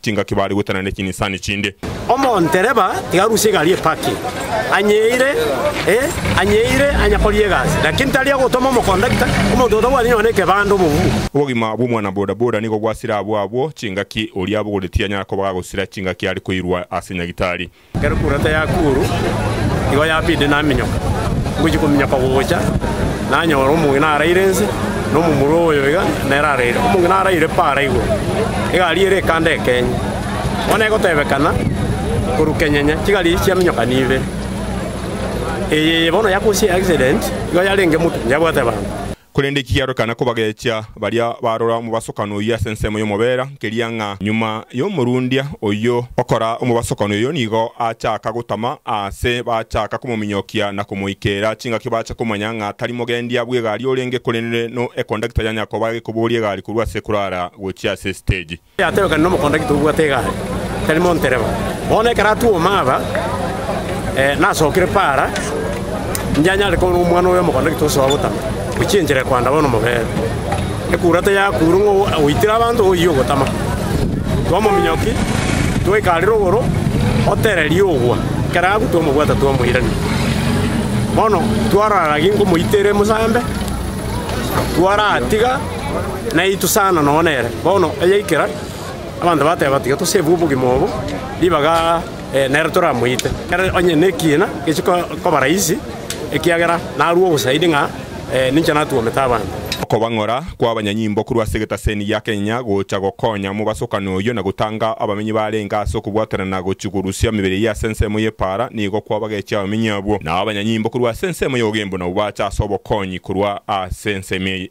chingaki baare goetana ne chinisani chinde. Omontereba tiga arusie egari epaki, anyeire, ee, anyeire anya koria egasi, lakini tari agotoma omokondakita, omonto otabwati nonya nekebande, omogumu. Obogima bw'omwana boda boda nigo bwasire abwo abwo chingaki oria abogoretie anyara koba gagosira chingaki are koirwa ase nyagitari. Ekero kura teyakuuru, igo yapinde naminyoka, ngochia kominyoka gocha, nanyora omong'ina araire nse, na omomura oyo iga nere araire. Omong'ina araire pa ara igoro, egari ere ekanda ekenye, bono egotebekana korwa kenyenye, chigari echi chiaminyokana ibere. Eye bono yakosia accident, igo yarenge moto, yabwate bango. Korende eki kiarorekana kobagechia baria barora omobasokano oyio ase ensemo y'omobera, nkeria ng'a nyuma y'omorundia oyio okora omobasokano oyio nigo achaaka gotama aase bachaaka komominyokia na komoikeera chingaki bache komanya ng'a tari mogendia bw'egari orenge korende no ekondakita ya Nyakoba agekoboria egari korwa ase ekurara gochia ase esiteji. Yateebekani nomokonda gete obwate egari, tari montereba. Bono ekero atwoma aba, nasokire para, inche anyare koba nomwana oyo omokonda gete osoa gotama, gochia enchera ekoanda bono mobeere. Ekura teyakuure ng'a oitire abanto oyie ogotama. Twamominyoki, twaika are rogoro, otereria ogwa, ekero agwa twamobwata twamoirania. Bono twarora gaki nkomoitera omosambe, twaratiga. naitwe sana nonya nere. Bono ayaikera, abanto bateba, Tiga tosebwe obogima obo, ribaga nere toramoite. Ekero onye nekiina gechi koba rahisi, ekiagera narue obosaidi ng'a ninche natuomete abanto. Okobang'ora kw'abanyanyimbo korwa ase egetaseni gia Kenya gocha gokonya mobasokano oyio na gotanga abamenyi barenge ase okobwatanana gochia korusia emebere eyio ase ensemo y'epaara nigo kwabagechia abamenyi abwo. Nao abanyanyimbo korwa ase ensemo y'ogimbu nabwo bacha ase obokonyi korwa ase ensemo eye.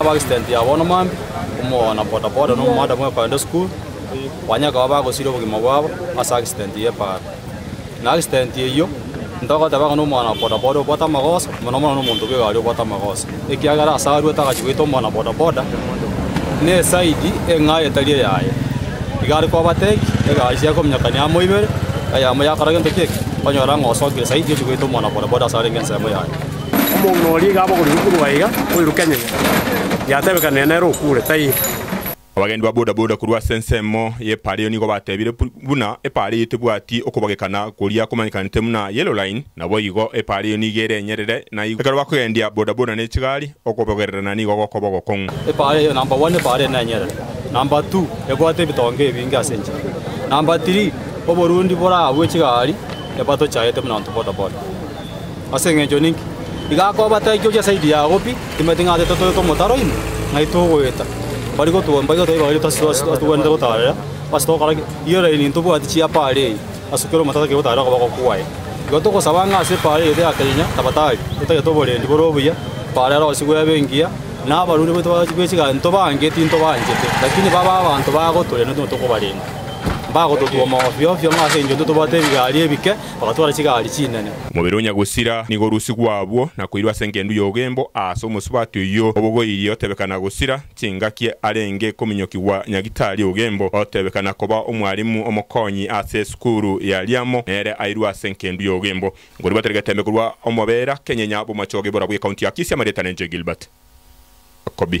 Ab'accident ya bono mambia komogana bodaboda na omomadam okoenda esukuru, onye akaba bagosiria obogima bwabo ase accident y'epara. Na accident eyio ntogoteba ng'a nomogana bodaboda obwate amagoso mono mono nomonto bw'egari obwate amagoso, ekiagera ase arwete agachia goita omogana bodaboda n'eside eng'aye etari eyaye. Iga are kobatebia egari chiaye kominyokania amo ibere eyemo yakora gento kiekio, onyora ng'a osokire side ochia goita omogana bodaboda ase arenge ensemo yaye. Omonto oria iga abogorirwe korwa aiga, oiruke enyegera, yatebekanire nere okure, taiga. Abagendi ba bodaboda korwa ase ensemo y'epaara eyo nigo batebire buna epaara eyo tebwati okobagekana koria komanyekanete buna Yellow Line, naboigo epaara eyo nigo ere enyerere na igo ekero bakogendia bodaboda ne chigari, okobogererana nigo gokoba ogokong'u. Epaara eyo namba one epaara ere nenyerere, namba two ebwate ebitonga ebinge ase enchera, namba three oborundi boragwe chigari ebatochaete buna abanto bodaboda. Ase engencho ninki iga akoba taikio chi'esaidi yao pi? Timanyeti ng'a titotoete omotaro ime ng'ai togoeta? Bari gotugwa mbaito taiba baria totagwenerete gotaarera. Ase togokora ki? Rirorerie nintobwati chiapa are eye, asukere omotaro tari gotaarera okoboko kwaye. Igo togosaba ng'a ase epaara eye ya kenya tabatari, totagete oborendi bore obuya, epaara ero abasigwa ebe engiya, na abarwani baito be chiganto bange tintobaanchete, lakini babe abanto bagotoorera na intwe tokobarenda. Mbagototwoma ofio ofio ng'a ase engencho intwe tobwate ebigari ebike, Bagatwara chigaari chinene. Omobere o Nyagusira nigo orusigwa abwo na koirwa ase engendu y'obogembo aase omosubati oyio obogoirie otebeka Nagusira chingaki arenge kominyokigwa Nyagitari obogembo otebeka na koba omwarimu omokonyi ase esukuru ya riamo nere airwe ase enkendu y'obogembo Ngorirwe Terry Getembe korwa omobera kenyenya bw'omochoge bora bw'ekaunti ya Kisii Amarietanenche Gilbert Kobi